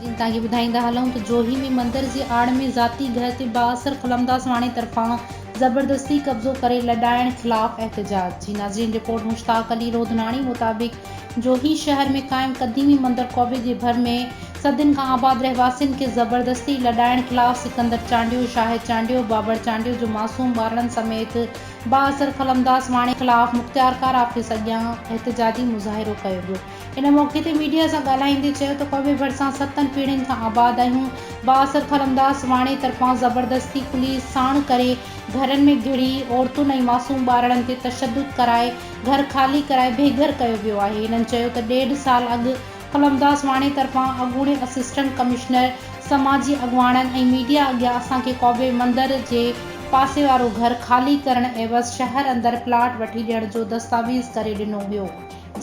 جيئن توهان کي ٻڌائيندا هلون ته جوهي ۾ مندر جي آڙ ۾ ذاتي گهر تي بااثر قلم داس واڻي طرفان زبردستي قبضو ڪري لڏائڻ خلاف احتجاج جي ناظرين رپورٽ مشتاق علي روڌناڻي مطابق جوهي شهر ۾ قائم قديمي مندر قوبي جي ڀر ۾ صدين کان آباد رهواسين کي زبردستي لڏائڻ خلاف سڪندر چانڊيو، شاهد چانڊيو، بابڙ چانڊيو جو معصوم ٻارڙن سميت با اثر قلمداز واڻي خلاف مختيارڪار آفيس اڳيان احتجاجي مظاهرو ڪيو ويو. ان موقعي تي ميڊيا سان ڳالهائيندي چيو ته قوبي ڀرسان ستن پيڙهين کان آباد آهيون، با اثر قلمداز واڻي طرفان زبردستي پوليس ساڻ ڪري گهرن ۾ گهڙي عورتن ۽ معصوم ٻارڙن تي تشدد ڪرائي گهر خالي ڪرائي بيگهر ڪيو ويو آهي. هنن چيو ته ڏيڍ سال اڳ قلمداس واڻي طرفان اڳوڻي اسسٽنٽ ڪمشنر، سماجي اڳواڻن ۽ ميڊيا اڳيان اسان کي قوبي مندر جي پاسي وارو گهر خالي ڪرڻ عيوض شهر اندر پلاٽ وٺي ڏيڻ جو دستاويز ڪري ڏنو ويو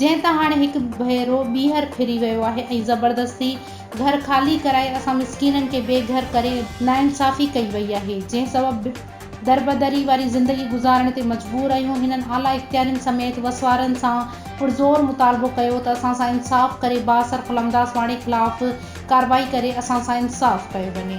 جنهن تان هاڻي هڪ ڀيرو ٻيهر ڦري ويو آهي ۽ زبردستي گهر خالي ڪرائي اسان مسڪينن کي بيگهر ڪري ناانصافي ڪئي وئي آهي جنهن سبب دربدري واري زندگي گذارڻ تي مجبور آهيون، هنن اعليٰ اختيارين سميت وسوارن سان پرزور مطالبو ڪيو ته اسان سان انصاف ڪري بااثر خلمداس واڻي خلاف ڪارروائي ڪري اسان سان انصاف ڪيو وڃي.